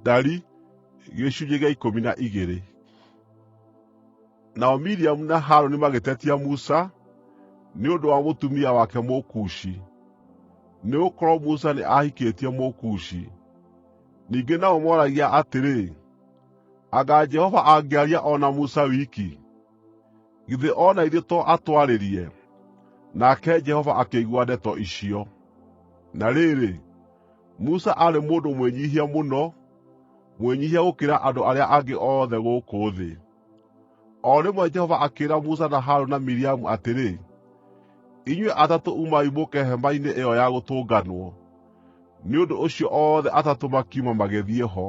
Dari gĩcunjĩ gĩa ikũmi na igĩrĩ Nao Miriamu na Harũni magĩtetia Musa nĩ ũndũ wa mũtumia wake Mũkushi, nĩgũkorwo Musa nĩ aahikĩtie Mũkushi. Ningĩ nao mooragia atĩrĩ, “Anga Jehova angĩaria o na Musa wiki?” Githĩ o na ithuĩ to atwarĩrie?” Nake Jehova akĩigua ndeto icio. (Na rĩrĩ, Musa aarĩ mũndũ mwĩnyiihia mũno, mwĩnyiihia gũkĩra andũ arĩa angĩ othe gũkũ thĩ.) O rĩmwe Jehova akĩĩra Musa na Harũni na Miriamu atĩrĩ, “Inyuĩ atatũ umai mũũke Hema-inĩ-ĩyo-ya-Gũtũnganwo.” Nĩ ũndũ ũcio othe atatũ makiuma magĩthiĩ ho.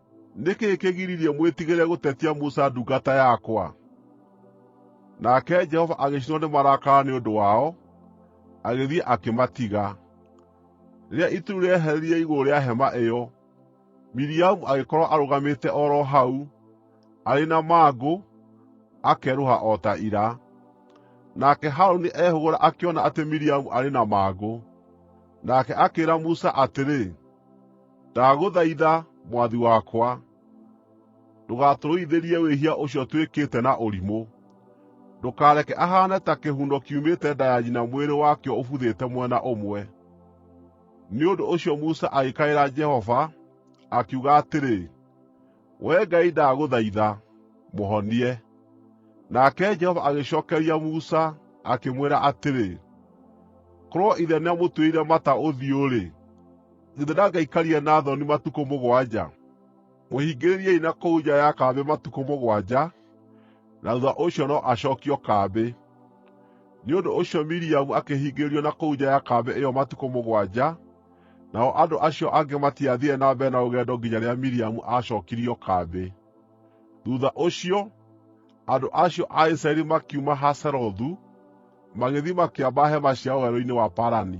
Nĩ kĩĩ kĩgiririe mwĩtigĩre gũtetia Musa ndungata yakwa?” Nake Jehova agĩcinwo nĩ marakara nĩ ũndũ wao, agĩthiĩ akĩmatiga. Rĩrĩa itu rĩu rĩeherire igũrũ rĩa hema ĩyo, Miriamu agĩkorwo arũgamĩte o ro hau, arĩ na mangũ, akerũha o ta ira. Nake Harũni eehũgũra akĩona atĩ Miriamu arĩ na mangũ. Nake akĩĩra Musa atĩrĩ, Ndagũthaitha, mwathi wakwa, ndũgatũrũithĩrie wĩhia ũcio twĩkĩte na ũrimũ. Ndũkareke ahaane ta kĩhuno kiumĩte nda ya nyina mwĩrĩ wakĩo ũbuthĩte mwena ũmwe.” Nĩ ũndũ ũcio Musa agĩkaĩra Jehova, akiuga atĩrĩ, “Wee Ngai ndagũthaitha, mũhonie!” Nake Jehova agĩcookeria Musa, akĩmwĩra atĩrĩ, “Korwo ithe nĩamũtuĩrĩire mata ũthiũ-rĩ, githĩ ndangĩaikarire na thoni matukũ mũgwanja? Mũhingĩrĩriei na kũu nja ya kambĩ matukũ mũgwanja, na thuutha ũcio no acookio kambĩ.” Nĩ ũndũ ũcio Miriamu akĩhingĩrĩrio na kũu nja ya kambĩ ĩyo matukũ mũgwanja, Nao andũ acio angĩ matiathiire na mbere na rũgendo nginya rĩrĩa Miriamu aacookirio kambĩ. Thuutha ũcio, andũ acio a Isiraeli makiuma Hazerothu, magĩthiĩ makĩamba hema ciao werũ-inĩ wa Parani.